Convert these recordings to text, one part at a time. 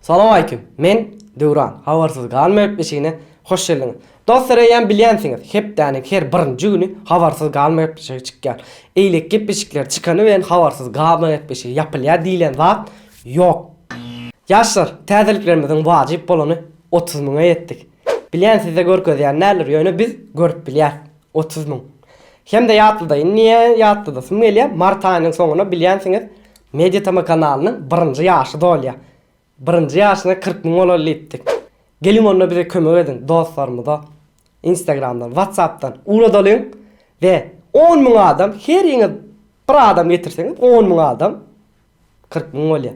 Salowmaleýkim. Men, Döwran. Habarsyz galmaýyp işine hoş geldiňiz. Dostlar eýýäm bilýänsiňiz, hepdäniň her birinji güni Habarsyz galmaýyp işigi çykýar. Eýle gep-eşikler çykany bilen Habarsyz galmaýyp işigi ýapylýar diýlen zat ýok. Ýaşlar, täzeliklerimiziň wajyp bolany otuz müňe ýetdik. Bilýän sizde görkezýän däldir ýöne biz görüp bilýäs otuz müň hemde ýatlyda indi niýe ýatlydasym gelýär mart aýynyň soňuna bilýänsiňiz mediatama kanalynyň birinji ýaşy dolýar birinji ýaşyna kyrk müň bolaly diýipdik geliň onda bize kömek ediň dostlarymyza instagramdan watsapdan ugradalyň we on müň adam heriňiz bir adam getirseňiz on müň adam kyrk müň bolýa.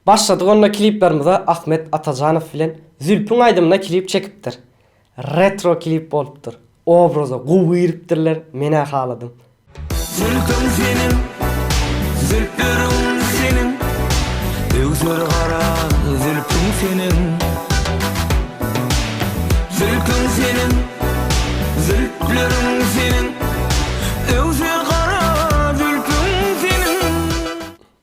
Başladyk onda kliplerimize Ahmet Atajanow bilen Zülpüň aýdymyna klip çekipdir. Retro klip bolupdyr. Obraza gowy giripdirler menä haladym. Zülpüň seniň zülpleriň seniň öwser gara zülpüň seniň. Zülküň seniň, zülpleriň seniň, öwse gara zülküň seniň.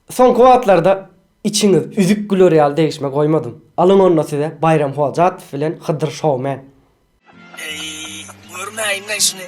Soňky wagtlarda içiňiz üzük güler ýaly degişme goýmadym. Alyň onda size Baýram Hojatow bilen Hydyr Showman. Eý, görmäýin-le şuny.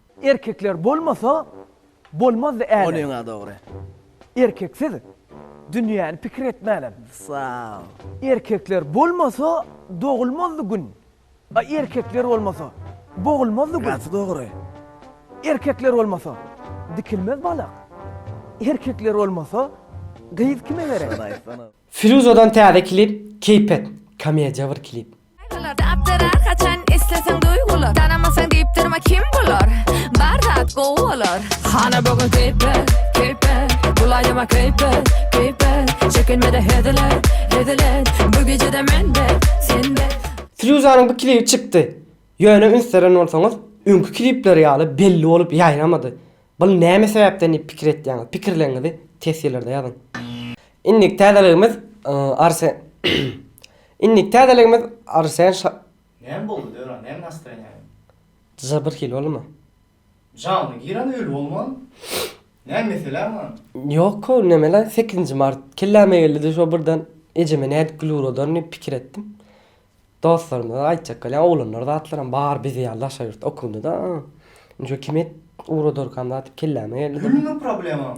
Erkekler bolmasa bolmazdy älem. Ol ýöne dogry. Erkeksiz dünýäni pikir etmänem. Sag. Erkekler bolmasa dogulmazdy gün. A erkekler bolmasa bogulmazdy gün. Gaty dogry. Erkekler bolmasa dikilmez balak. Erkekler bolmasa gyz kime gerek. Firuzadan täze klip keypet komediýa bir klip. Gaýtalarda apdyrar haçan isleseň duýgular Tanamasaň diýip durma kim bular Bar zat gowy bolar Hana bu gün keýpe keýpe Bulaýma keýpe keýpe Çekinmede hezile hezile Bu gijede mende sende Firuzanyň bu klibi çykdy. Ýöne üns beren bolsaňyz, öňki klipleri ýaly belli bolup ýaýramady. Bul näme sebäpden diýip pikir etýäňiz? Pikirleriňizi tesgirlerde ýazyň. Indiki täzeligimiz Arsen Indiki täzeligimiz Arsen Şa. Näme boldy Döwran näme nastreniýaň. Jr bir hili boldymy. Janyna giren öli bolman. Näme meseläň lan. Ýok ow neme lan sekizinji mart kelläme geldide şo birden ejeme nädip gül uradaryn diýip pikir etdim. Dostlarymyza aýtjak bolýan oglanlar zatlaram bar bizi ýaly daşary ýurtda okundida. Indi şo kime uradarkam zat diýip kelläme geldi bir. Gülmi problemaň?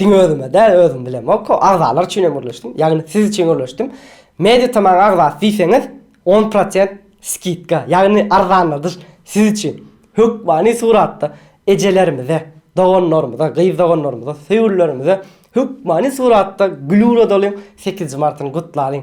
Diňe özüme däl, özüm bilemok, agzalar üçin hem gürleşdim. Ýagny siz üçin gürleşdim. MediaTomaň agzasy diýseňiz, on prosent skidka, ýagny arzanladyş siz üçin. Hökmany suratda ejelerimize, doganlarymyza, gyz doganlarymyza, söýgülilerimize hökmany suratda gül ugradalyň, sekizinji martyny gutlalyň.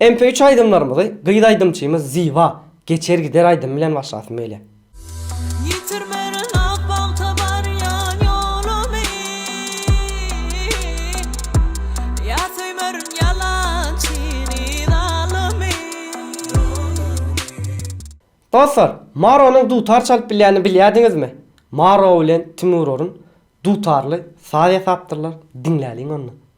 MP3 aýdymlarymyzy gyz aýdymçymyz Ziba Geçer gider aýdymy bilen başlasym gelýär. Ýitirmerin ak bagta barýan ýolumy, Ýa söýmerin ýalançy nidalymy. Dostlar, Maronyň dutar çalyp bilýänini bilýärdiňizmi? Maro bilen Timur Orun dutarly saz ýasapdyrlar, diňläliň onda.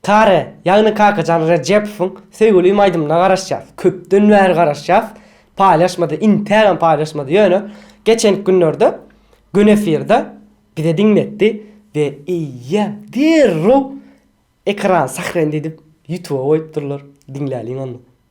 Tare, ýagny Kakajan Rejepowyň Söýgülim aýdymyna garaşýas. Köpden bäri garaşýas. Paýlaşmady, intägem paýlaşmady. Ýöne geçenki günlerde Gün efirde bize diňletdi we eýýäm derrew ekran sahrendi edip ýutuba goýupdyrlar. Diňläliň onda.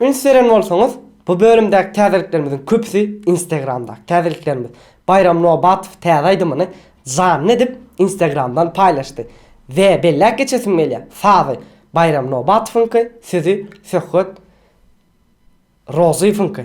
Üns beren bolsaňyz, bu bölümdäki täzeliklerimiziň köpüsi Instagramdaky täzeliklerimiz. Baýram Nobatow täze aýdymyny janly edip, Instagramdan paýlaşdy. We belläp geçesim gelýär, sazy, Baýram Nobatowyňky, sözi, Söhbet Rozyýewiňki.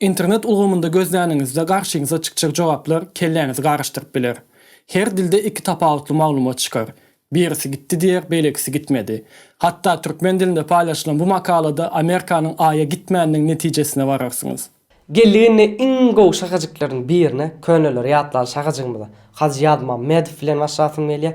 Internet ulgamynda gözläniňizde garşyňyza çykjak jogaplar kelläňizi garyşdyryp biler. Her dilde iki tapawutly maglumat çykar. Birisi gitdi diýer, beýlekisi gitmedi. Hatda türkmen dilinde paýlaşylan bu makalada Amerikanyň Aýa gitmäniniň netijesine bararsyňyz. Geldik indi iň gowy şakajyklaryň birine, köneleri ýatlaly şakajygymyza. Hajy Ýazmammedow bilen başlasym gelýär.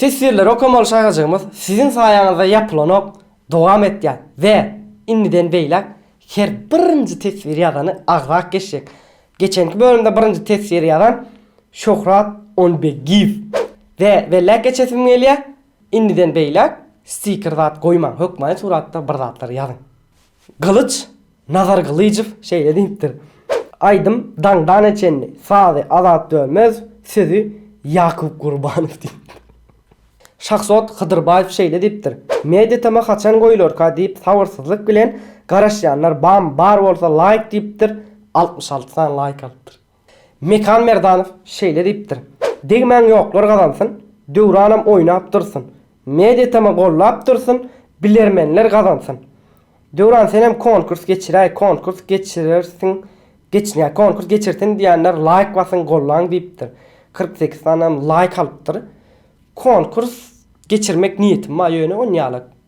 Teswirleri okamaly şaýyjygymyz siziň saýaňyzda ýapylanok dowam etýär we indiden beýläk her birinji teswir ýazany agzak geçjek. Geçenki bölümde birinji teswiri ýazan Şöhrat Onbegiýew we belläp geçesim gelýär indiden beýläk stiker zat goýmaň hökmany suratda bir zatlar ýazyň. Gylyç Nazargylyjow şeýle diýipdir, Aýdym Daňdana çenli, sazy Azat Dönmez, sözi Ýakup Gurbanow diýipdir. Şahzod Hydyrbaýew şeýle diýipdir, Mediatm-a haçan goýularka diýip sabyrsyzlyk bilen garaşýanlar bam bar bolsa laýk diýipdir, altmyş alty sany laýk alypdyr. Mekan Merdanow şeýle diýipdir, Degmäň ýoklar gazansyn, Döwranam oýnap dursyn, Mediatm-a gollap dursyn, Bilermenler gazansyn. Döwran senem konkurs geçiräý konkurs geçirersiň geçinýä konkurs geçirsin diýenler laýk basyň gollaň diýipdir kyrk sekiz sanam laýk alypdyr konkurs geçirmek niýetim bar ýöne onýalak.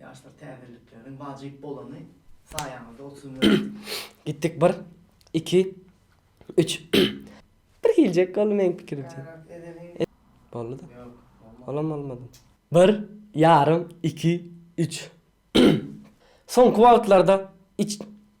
Ýaşlar täzelikleriniň wajyp bolany saýaňyzda otuzun özi. Gitdik bir, iki, üç. Bir geljek boldy meň pikirimçe. Boldy-da. Olam bolmady. Bir, ýarym, iki, üç. Soňky wagtlarda iç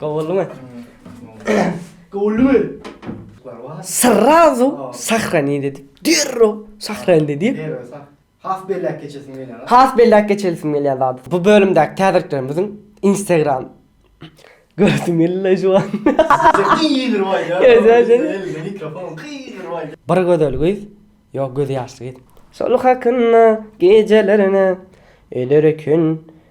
Gowuldymy? Gowuldymy? Srazu sahrani dedi. Derrew sahrani dedi. Has belläp geçesim gelýär. Has belläp geçelisim gelýär zady. Bu bölümdäki täzeliklerimiziň Instagram Görsüm geldi-le şu an. Bir gözel gyz, ýok gözi ýaşly gyz. Şol hakynda gejelerine öler eken.